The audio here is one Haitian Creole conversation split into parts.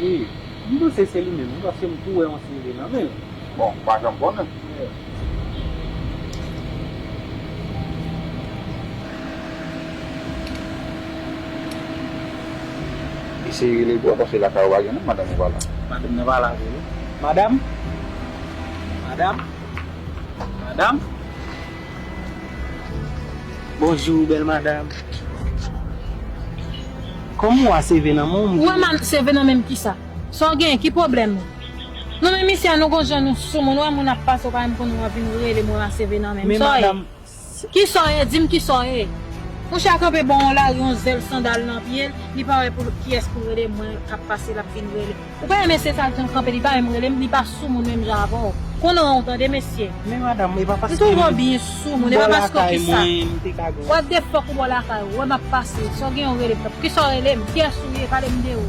Wi, m panse se li menm wi paske m tou wè yon CV nan men l. Bon, m pa janm konnen. Eseye rele l bro paske lakay ou pa gen moun, madanm ou pa la. Madanm nan pa la vre wi. Madam? Madam? Madam? Bonjour belle madame Kòm ou a CV nan men w m Ou a CV nan men m kisa Sa w genyen ki pwoblèm ou Non men mesye a nou gon jan nou soumoun ou wè moun ap pase ou pa menm konnen w ap vin rele m ou a CV nan men m Sa w ye Kisa w ye di m kisa w ye Mouche a kanpe bò yon lari yon zèl sandal nan pye l li pa wè kiyès pou l rele mwen k ap pase l ap vin rele. Ou pa renmen se sal janm kanpe li pa menm relem li pa sou moun menm jan avèw kon nan ou tande mesye. Men madam epa paske m bò lakay mwen m te ka gen. What the fuck ou bò lakay ou wè map pase si w gen yon rele m nan poukisa w rele m kiyès ou ye pale m de ou.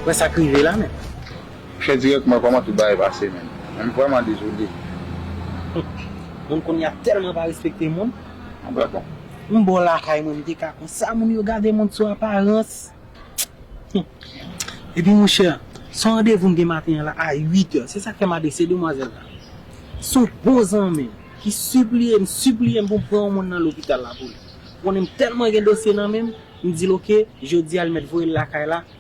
Wè sak rive la menm. Chè dirèk mwen kòman tout bagay pase menn m vrèman dezole. Humm moun konnya telman pa respekte moun. An bref bon. M bò lakay mwen m te ka kon sa moun yo gade moun sou aparans humm epi monchè son randevou m gen maten an la a 8 è se sak fè m adrese demwazèl la son bon zanmi m ki sipliye m sipliye m pou m pran yon moun nan lopital la pou li konnen m telman gen dosye nan menm m di l ok jodi a li mèt voye l lakay la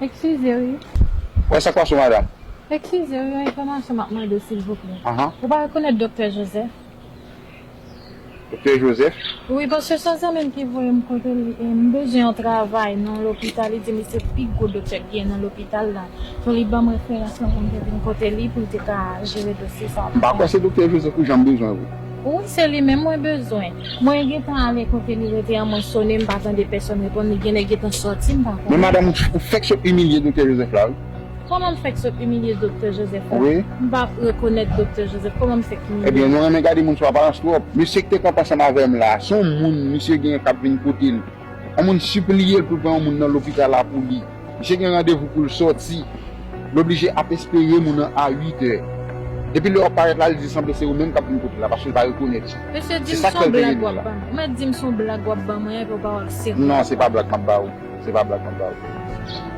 Ekskize wi. Wè sak pase madam. Ekskize wi yon enfòmasyon map mande silvouplè. Ou pa rekonèt doktè Joseph? Doktè Joseph? Wi paske son zanmim ki voyem kotel e m bezwen yon travay nan yon lopital li dim li se pi gwo doktè ki gen nan lopital la so li banm referans lan poum te vin kote li poul te ka jere dosye sa. M pa kwè se doktè Joseph ou janm bezwen wi. Wi se li menm mwen bezwen. Mwen gentan ale kote li rete an mwen sone mpa tande pèsòn reponn li genlè gentan sòti mpa konnen. Men madam ou fèk sot imilye doktè Joseph la wi. Kòman m fèk sot imilye doktè Joseph la? Wi. M pa rekonèt doktè Joseph kòman m fèk imilye? Ebyen nou renmen gade moun sou aparans twòp. Mesye k te kanpe ansanm avè m la, se yon moun misye genyen k ap vin kote l. Yon moun sipliye l pou l pran yon moun nan lopital la pou li. Misye gen randevou pou l sòti. L oblije ap espere moun an a uitè. Depi lè w ap parèt la, li di sanble se ou menm k ap vin kote l la paske l pa rekonèt ou. Mesye, di m s on blag w ap ban mwen. Ou mèt di m s on blag w ap ban mwen epi w pa wè m serye. Non, se pa blag m ap ba ou. Se pa blag m ap ba ou.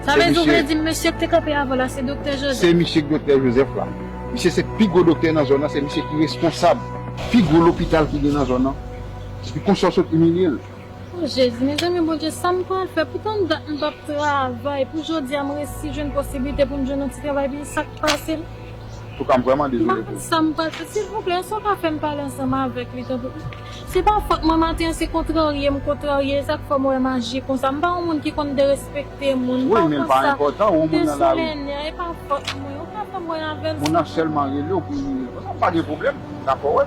Sa vle di ou vle di m mesye k te kanpe avan w la se Doktè Jozèf? Se misye k Doktè Jozèf la. Misye se pi gwo doktè nan zòn nan, se misye ki responsab pi gwo lopital ki gen nan zòn nan. Epi konsè w sot imilye l? Oh jezi mezanmi bondye sam pral fè pou tann dat m pap travay pou jodia m resi jwenn posiblite pou m jwenn yon ti travay pi sak pasem Toukar m vrèman dezole pou ou. M pa konn sam pral fè silvouplè èske w ka fèm pale ansanm avèk li tanpri se pa fòt mwen maten an se kontrarye m kontrarye esak fèm wè maji konsa m pa yon moun ki konn derespekte moun m pa konsa m desolennè e pa fòt mwen ou ka fèm wè avèl silvouplè.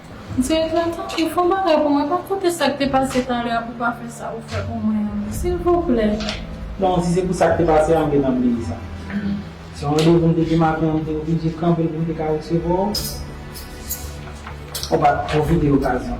Direktè tanpri fon bagay pou mwen rakonte sak te pase talè a pou pa fè sa ou fè pou mwen an silvouplè. Bon si se pou sak te pase a anben nap bliye sa. Se yon randevou m te gen maten an m te oblije kanpe l pou m te ka resevwa w. Ou pa pwofite okazyon.